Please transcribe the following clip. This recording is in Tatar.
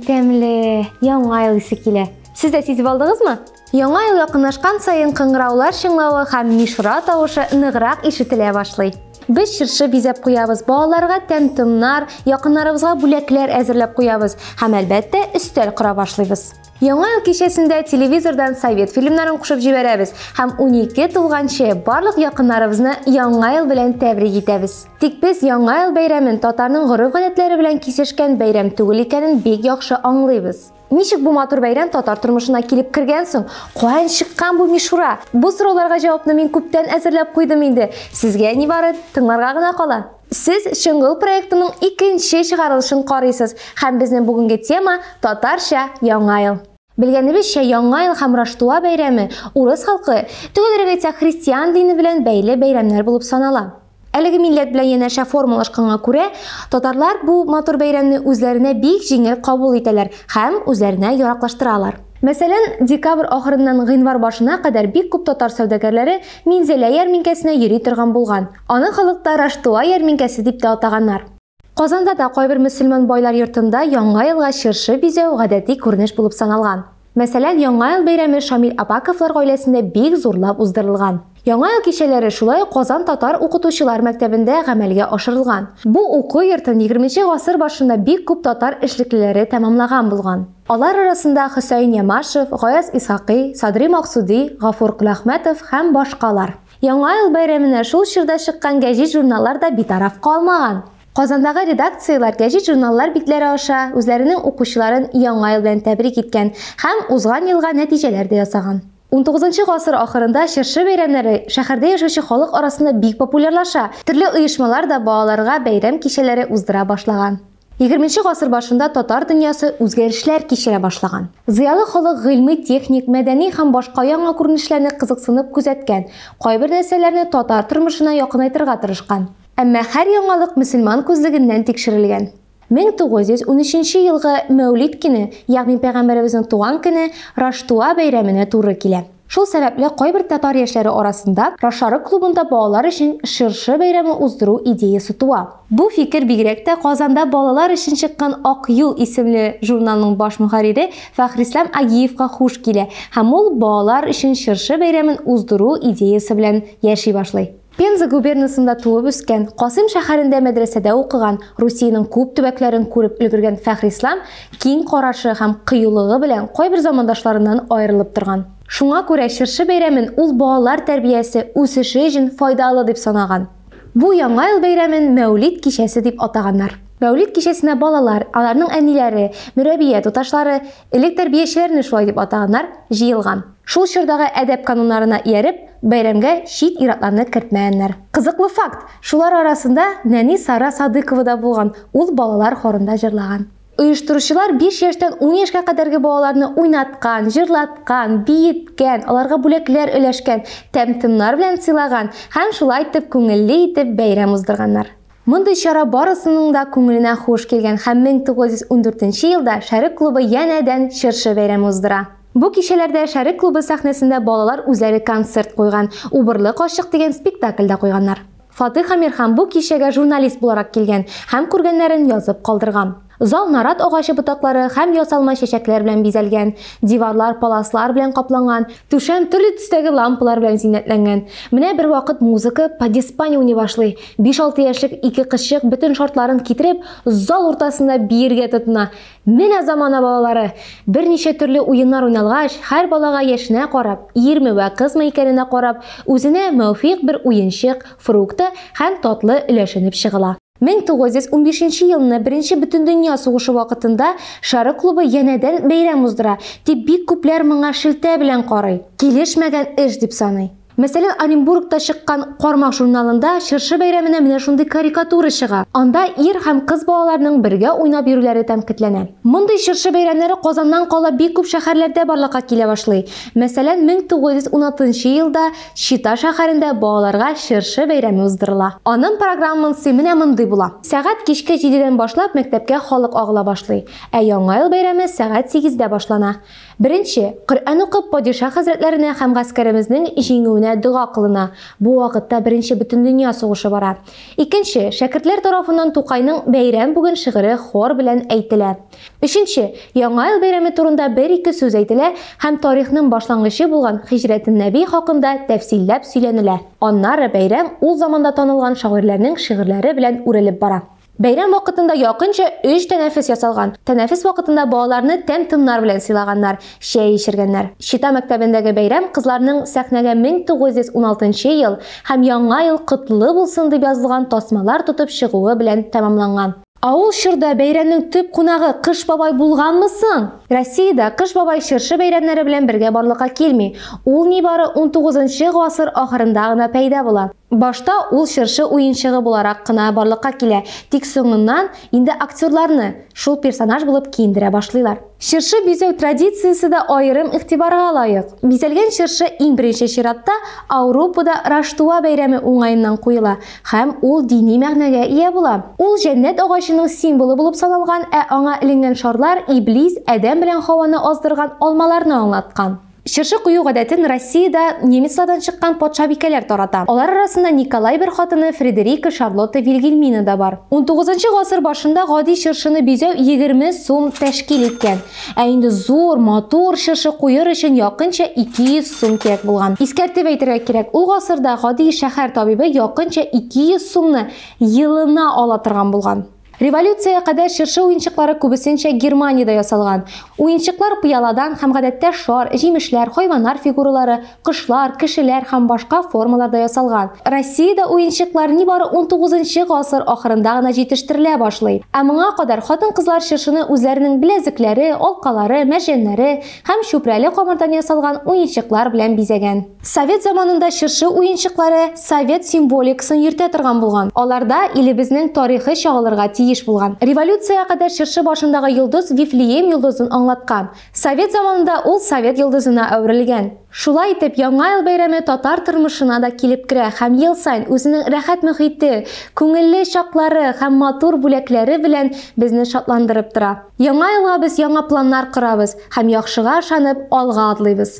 тәмле, яңа ел исе килә. Сез дә сизеп алдыгызмы? Яңа ел якынлашкан саен кыңгыраулар чыңлавы һәм мишура тавышы ныграк ишетелә башлый. Без чыршы бизәп куябыз, балаларга тәм-томнар, якыннарыбызга бүләкләр әзерләп куябыз һәм әлбәттә өстәл кора башлыйбыз. Яңа ел кичәсендә телевизордан совет фильмнарын кушып җибәрәбез һәм 12 тулганчы барлык якыннарыбызны Яңа ел белән тәбрик итәбез. Тик без Яңа ел бәйрәмен татарның гореф-гадәтләре белән кисешкән бәйрәм түгел икәнен бик яхшы аңлыйбыз. Ничек бу матур бәйрәм татар тормышына килеп кергән соң, каян чыккан бу мишура? Бу сорауларга җавапны мин күптән әзерләп куйдым инде. Сезгә ни бары тыңларга гына кала. Сез Чыңгыл проектының икенче чыгарылышын карыйсыз һәм безнең бүгенге тема татарча Яңа ел. Белгәнебезчә, Яңа ел һәм Раштуа бәйрәме урыс халкы, төгәлрәк әйтсәк, христиан дине белән бәйле бәйрәмнәр булып санала. Әлеге милләт белән янәшә формалашканга күрә, татарлар бу матур бәйрәмне үзләренә бик җиңел кабул итәләр һәм үзләренә яраклаштыралар. Мәсәлән, декабрь ахырыннан гыйнвар башына кадәр бик күп татар сәүдәгәрләре Минзәлә ярминкәсенә йөри торган булган. Аны халыкта Раштуа ярминкәсе дип тә атаганнар. Казанда да кайбер мөселман байлар йортында Яңа елга чыршы бизәү гадәти күренеш булып саналган. Мәсәлән, Яңа ел бәйрәме Шамил Апаковлар гаиләсендә бик зурлап уздырылган. Яңа ел кичәләре шулай ук Казан татар укытучылар мәктәбендә гамәлгә ашырылган. Бу уку йортын егерменче гасыр башында бик күп татар эшлеклеләре тәмамлаган булган. Алар арасында Хөсәен Ямашев, Гаяз Исхакый, Садри Максуди, Гафур Коләхмәтов һәм башкалар. Яңа ел бәйрәменә шул чорда чыккан гәҗит-журналлар да битараф калмаган. Казандагы редакцияләр гәҗит-журналлар битләре аша үзләренең укучыларын Яңа ел белән тәбрик иткән һәм узган елга нәтиҗәләр дә ясаган. Унтугызынчы гасыр ахырында чыршы бәйрәмнәре шәһәрдә яшәүче халык арасында бик популярлаша, төрле оешмалар да балаларга бәйрәм кичәләре уздыра башлаган. Егерменче гасыр башында татар дөньясы үзгәрешләр кичерә башлаган. Зыялы халык гыйльми, техник, мәдәни һәм башка яңа күренешләрне кызыксынып күзәткән, кайбер нәрсәләрне татар тормышына якынайтырга тырышкан. Әмма һәр яңалык мөселман күзлегеннән тикшерелгән. 1913 елгы Мәүлид көне, ягъни Пәйгамбәребезнең туган көне, Раштуа бәйрәменә туры килә. Шул сәбәпле кайбер татар яшьләре арасында Рошарык клубында балалар өчен Шыршы бәйрәме уздыру идеясе туа. Бу фикер бигрәк тә Казанда балалар өчен чыккан Ак юл исемле журналның баш мөхәррире Фәхрислам Агиевка хуш килә һәм ул балалар өчен Шыршы бәйрәмен уздыру идеясе белән яши башлый. Пенза губернасында туып-үскән, Касыйм шәһәрендә мәдрәсәдә укыган, Русиянең күп төбәкләрен күреп өлгергән Фәхрислам киң карашы һәм кыюлыгы белән кайбер замандашларыннан аерылып торган. Шуңа күрә чыршы бәйрәмен ул балалар тәрбиясе, үсеше өчен файдалы дип санаган. Бу Яңа ел бәйрәмен Мәүлид кичәсе дип атаганнар. Мәүлид кичәсенә балалар, аларның әниләре, мөрәбия туташлары, Элек тәрбиячеләрне шулай дип атаганнар, җыелган. Шул чордагы әдәп кануннарына ияреп, бәйрәмгә чит ир-атларны кертмәгәннәр. Кызыклы факт, шулар арасында нәни Сара Садыкова да булган, ул балалар хорында җырлаган. Оештыручылар биш яшьтән ун яшькә кадәрге балаларны уйнаткан, җырлаткан, биеткән, аларга бүләкләр өләшкән, тәм-томнар белән сыйлаган һәм шулай итеп күңелле итеп бәйрәм уздырганнар. Мондый чара барысының да күңеленә хуш килгән һәм 1914 нче елда Шәрык клубы янә дән Чыршы бәйрәме уздыра. Бу кичәләрдә Шәрык клубы сәхнәсендә балалар үзләре концерт куйган, Убырлы карчык дигән спектакль дә куйганнар. Фатыйх Әмирхан бу кичәгә журналист буларак килгән һәм күргәннәрен язып калдырган. Зал нарат агачы ботаклары һәм ясалма чәчәкләр белән бизәлгән, диварлар паласлар белән капланган, түшәм төрле төстәге лампалар белән зиннәтләнгән. Менә бервакыт музыка подиспани уйный башлый. Биш-алты яшьлек ике кызчык бөтен шартларын китереп, зал уртасында биергә тотына. Менә замана балалары! Берничә төрле уеннар уйналгач, һәр балага яшенә карап, ирме вә кызмы икәненә карап, үзенә мөвфикъ бер уенчык, фрукты һәм татлы өләшенеп чыгыла. 1915 нче елны Беренче бөтендөнья сугышы вакытында Шары клубы янәдән бәйрәм уздыра, дип бик күпләр моңа шелтә белән карый, килешмәгән эш дип саный. Мәсәлән, Оренбургта чыккан Кармак журналында чыршы бәйрәменә менә шундый карикатура чыга. Анда ир һәм кыз балаларның бергә уйнап йөрүләре тәнкыйтьләнә. Мондый чыршы бәйрәмнәре Казаннан кала бик күп шәһәрләрдә барлыкка килә башлый. Мәсәлән, 1916 елда Чита шәһәрендә балаларга чыршы бәйрәме уздырыла. Анын программнсы менә мондый була. Сәгать кичке җидедән башлап мәктәпкә халык агыла башлый, ә Яңа ел бәйрәме сәгать сигездә башлана. Беренче, Коръән укып падиша хәзрәтләренә һәм гаскәремезнең җиңүенә дога кылына, бу вакытта беренче бөтендөнья сугышы бара. Икенче, шәкертләр тарафыннан Тукайның Бәйрәм бүген шигыре хор белән әйтелә. Өченче, Яңа ел бәйрәме турында бер-ике сүз әйтелә һәм тарихның башлангычы булган Хиҗрәтен Нәби хакында тәфсилләп сөйләнелә. Аннары бәйрәм ул заманда танылган шагыйрьләрнең шигырьләре белән үрелеп бара. Бәйрәм вакытында якынча өч тәнәфес ясалган. Тәнәфес вакытында балаларны тәм-томнар белән сыйлаганнар, чәй эчергәннәр. Чита мәктәбендәге бәйрәм кызларның сәхнәгә 1916 нчы ел һәм Яңа ел котлы булсын дип язылган тасмалар тотып чыгуы белән тәмамланган. Ә ул чорда бәйрәмнең төп кунагы Кыш бабай булганмы соң? Россиядә Кыш бабай чыршы бәйрәмнәре белән бергә барлыкка килми. Ул нибары унтугызынчы гасыр ахырында гына пәйда була. Башта ул чыршы уенчыгы буларак кына барлыкка килә, тик соңыннан инде актерларны шул персонаж булып киендерә башлыйлар. Чыршы бизәү традициясе дә аерым игътибарга лаек. Бизәлгән чыршы иң беренче чиратта Ауропада Раштуа бәйрәме уңаеннан куела һәм ул дини мәгънәгә ия була. Ул җәннәт агачының символы булып саналган, ә аңа эленгән шарлар Иблис Адәм белән Һаваны аздырган алмаларны аңлаткан. Чыршы кую гадәтен Россиядә немецлардан чыккан патшабикәләр тарата. Алар арасында Николай I хатыны Фредерика Шарлотта Вильгельмина да бар. Унтугызынчы гасыр башында гади чыршыны бизәү егерме сум тәшкил иткән. Ә инде зур, матур чыршы куер өчен якынча 200 сум кирәк булган. Искәртеп әйтергә кирәк, ул гасырда гади шәһәр табибы якынча 200 сумны елына ала торган булган. Революциягә кадәр чыршы уенчыклары күбесенчә Германиядә ясалган. Уенчыклар пыяладан һәм гадәттә шар, җимешләр, хайваннар фигуралары, кошлар, кешеләр һәм башка формаларда ясалган. Россиядә уенчыклар нибары унтугызынчы гасыр ахырында гына җитештерелә башлый. Ә моңа кадәр хатын-кызлар чыршыны үзләренең беләзекләре, алкалары, мәрҗәннәре һәм чүпрәле камырдан ясалган уенчыклар белән бизәгән. Совет заманында чыршы уенчыклары совет символикасын йөртә торган булган. Аларда илебезнең тарихы чагылырга тиеш булган. Революциягә кадәр чыршы башындагы йолдыз Вифлеем йолдызын аңлаткан. Совет заманында ул совет йолдызына әверелгән. Шулай итеп, Яңа ел бәйрәме татар тормышына да килеп керә һәм ел саен үзенең рәхәт мөхите, күңелле чаклары һәм матур бүләкләре белән безне шатландырып тора. Яңа елга без яңа планнар корабыз һәм яхшыга ышанып, алга атлыйбыз.